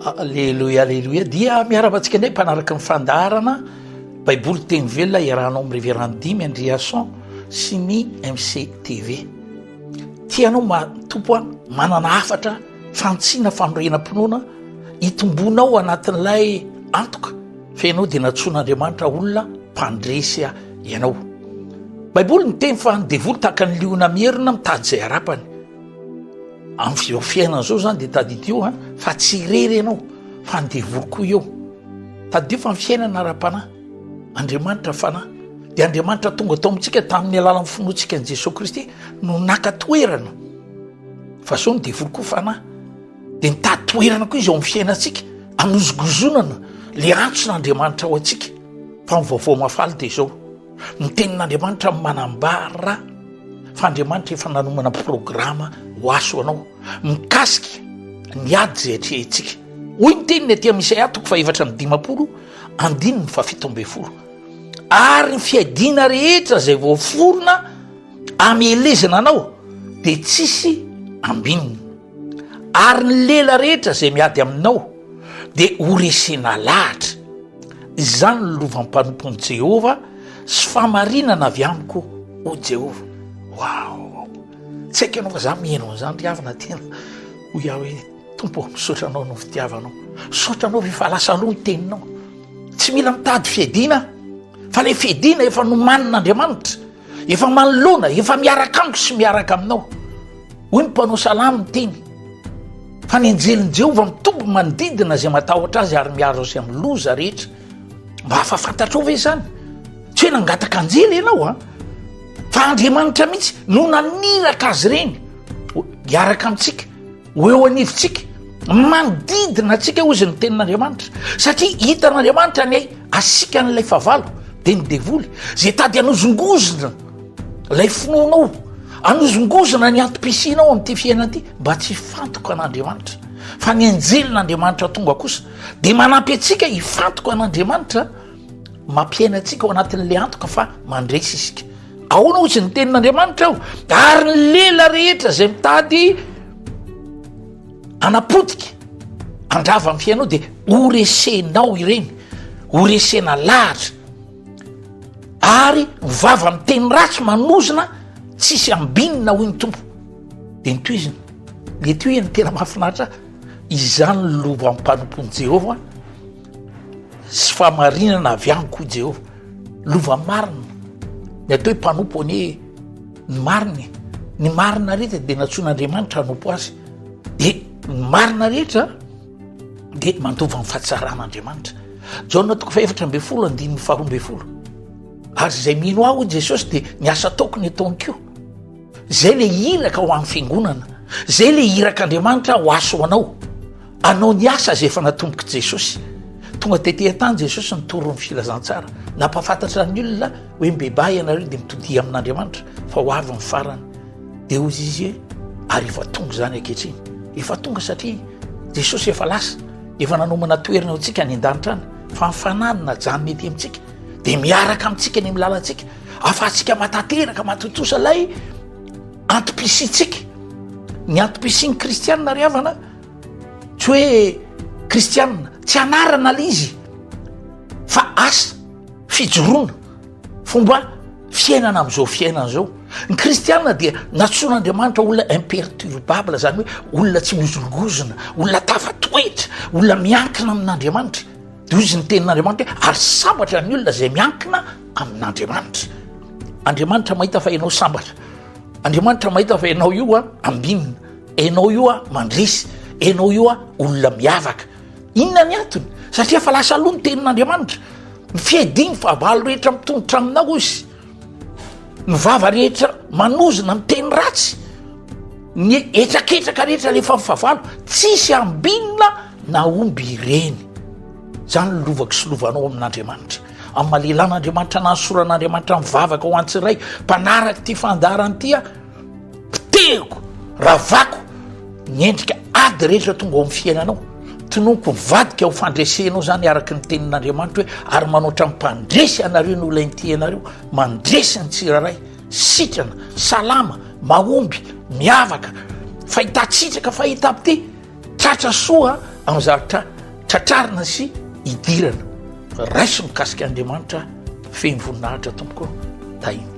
Aleloia aleloia dia miarahaba antsika indray mpanaraka ny fandaharana baiboly teny velona iarahanao amin'ny reverend dimy andriason sy ny mctv tianao matompo a manana hafatra fantsina fanorenam-pinoana hitombonao anatin'ilay antoka fa ianao dia natsoan'andriamanitra olona mpandresy a ianao baiboly ny teny fa ny devoly tahaka ny liona mierina mitady izay harapany Amin'ny fizao fiainana zao zany de tadidio ha fa tsy irery ianao fa ny devoly koa eo. Tadidio fa ny fiainana ara-panahy, Andriamanitra fanahy. De Andriamanitra tonga tao amintsika tamin'ny alalan'ny finoantsika an'i Jesoa Kristy no naka toerana fa zao ny devoly koa fanahy. De mitady toerana koa izy ao amin'ny fiainantsika hanozongozonana le antson'Andriamanitra ao antsika fa ny vaovao mahafaly de zao. Ny tenin'Andriamanitra manambara fa Andriamanitra efa nanomana programa ho ahy sy ho anao mikasika ny ady izay atrehintsika. Hoy ny teniny aty amin'ny Isaia toko fahefatra amby dimampolo andininy fahafito ambin'ny folo. Ary ny fiadiana rehetra izay voaforona amelezana anao dia tsisy ambininy. Ary ny lela rehetra izay miady aminao dia horesena lahatra. Izany no lovam-panompoan'i Jehovah sy fahamarinana avy amiko, hoy Jehovah. Waouh! Tsy haiko ianao fa za mino an'izany ry havana tena. Hoy aho hoe Tompo, misaotra anao noho ny fitiavanao. Misaotra anao rehefa lasa aloha ny teninao. Tsy mila mitady fiadiana aho fa ilay fiadiana efa nomanin'Andriamanitra. Efa manoloana, efa miaraka amiko sy miaraka aminao. Hoy ny mpanao salamo miteny fa ny anjelin'i Jehovah mitombo manodidina izay matahotra azy ary miaro azy amin'ny loza rehetra. Mba afa-fantatrao ve izany? Tsy hoe nangataka anjely ianao a, fa Andriamanitra mihitsy no naniraka azy ireny hiaraka amintsika, ho eo anivontsika, manodidina antsika hoy izy ny tenin'Andriamanitra. Satria hitan'Andriamanitra ny asikan'ilay fahavalo dia ny devoly izay tady hanozongozona lay finoanao anozongozona ny antom-pisianao amin'ity fiainana ity mba tsy hifantoka an'andriamanitra fa ny anjelin'andriamanitra tonga kosa dia manampy antsika hifantoka an'andriamanitra mampiaina antsika ao anatin'la antoka fa mandresy isika aona ozy ny tenin'andriamanitra aho ary ny lela rehetra izay mitady anapotika andrava ny fiainao dia horesenao ireny horesena lahatra ary ny vava miteny ratsy manozona tsisy ambinina hoy ny tompo de ny toizina mety ho iany tena mahafinaritra izany lovampanompon'i jehovah sy fahamarinana avy amiko i jehovah lova marina ny atao hoe mpanompo anie ny marina e ny marina rehetra de natsoin'andriamanitra hanompo azy de ny marina rehetra dia mandova ny fahatsaran'Andriamanitra. Jaona toko fahefatra ambin'ny folo andininy faharoa ambin'ny folo. Ary izay mino aho Jesosy dia ny asa ataoko ny ataony koa. Izay le iraka ho an'ny fiangonana, izay le irak'Andriamanitra ho aso ho anao. Anao ny asa izay efa natombok'i Jesosy. Tonga tety an-tany Jesosy nitory ny filazantsara. Nampahafantatra ny olona hoe mibebaha ianareo dia mitodiha amin'Andriamanitra fa ho avy ny farany. Dia hoy izy hoe, Ary efa tonga izany ankehitriny. Efa tonga satria Jesosy efa lasa, efa nanomana toerana eo antsika any an-danitra any, fa ny fanahy no najanona ety amintsika, dia miaraka amintsika ny amin'ny lalantsika, ahafahantsika matateraka, matontosa ilay antom-pisiantsika. Ny antom-pisian'ny kristianina ary havana, tsy hoe kristianina, tsy anarana ilay izy, fa asa, fijoroana. Fomba fiainana amin'izao fiainana izao, ny kristiana dia nantsoin'Andriamanitra olona imperturbable, izany hoe olona tsy mihozongozona, olona tafatoetra, olona miankina amin'Andriamanitra. Dia hozy ny tenin'Andriamanitra hoe ary sambatra ny olona izay miankina amin'Andriamanitra. Andriamanitra mahita fa ianao sambatra. Andriamanitra mahita fa ianao io a ambinina, ianao io a mandresy, ianao io a olona miavaka. Inona ny antony? Satria efa lasa aloha ny tenin'Andriamanitra. Fihediny fa valo rehetra mitondrotra aminao izy. Ny vava rehetra manozona ny teny ratsy. Ny etraketraka rehetra alefa ny favalo. Tsisy ambinina na omby ireny. Zany ny lovako sy lovanao amin'Andriamanitra. Amin'ny malelan'Andriamanitra na ny soran'Andriamanitra mivavaka ho an'ny tsiray mpanaraka ity fandaharana ity aho. Poteriko, ravako ny endrika ady rehetra tonga ao amin'ny fiainanao. Tononiko mivadika ho fandresenao izany araka ny tenin'Andriamanitra hoe ary manoatra ny mpandresy anareo ny olona inty anareo, mandresy ny tsirairay, sitrana, salama, mahomby, miavaka, fahitan-tsitraka, fahitam-pitia. Tratra soa amin'ny zavatra tratrarina sy idirana. Raiso mikasika Andriamanitra feno voninahitra tompoko Tahiny Tompo.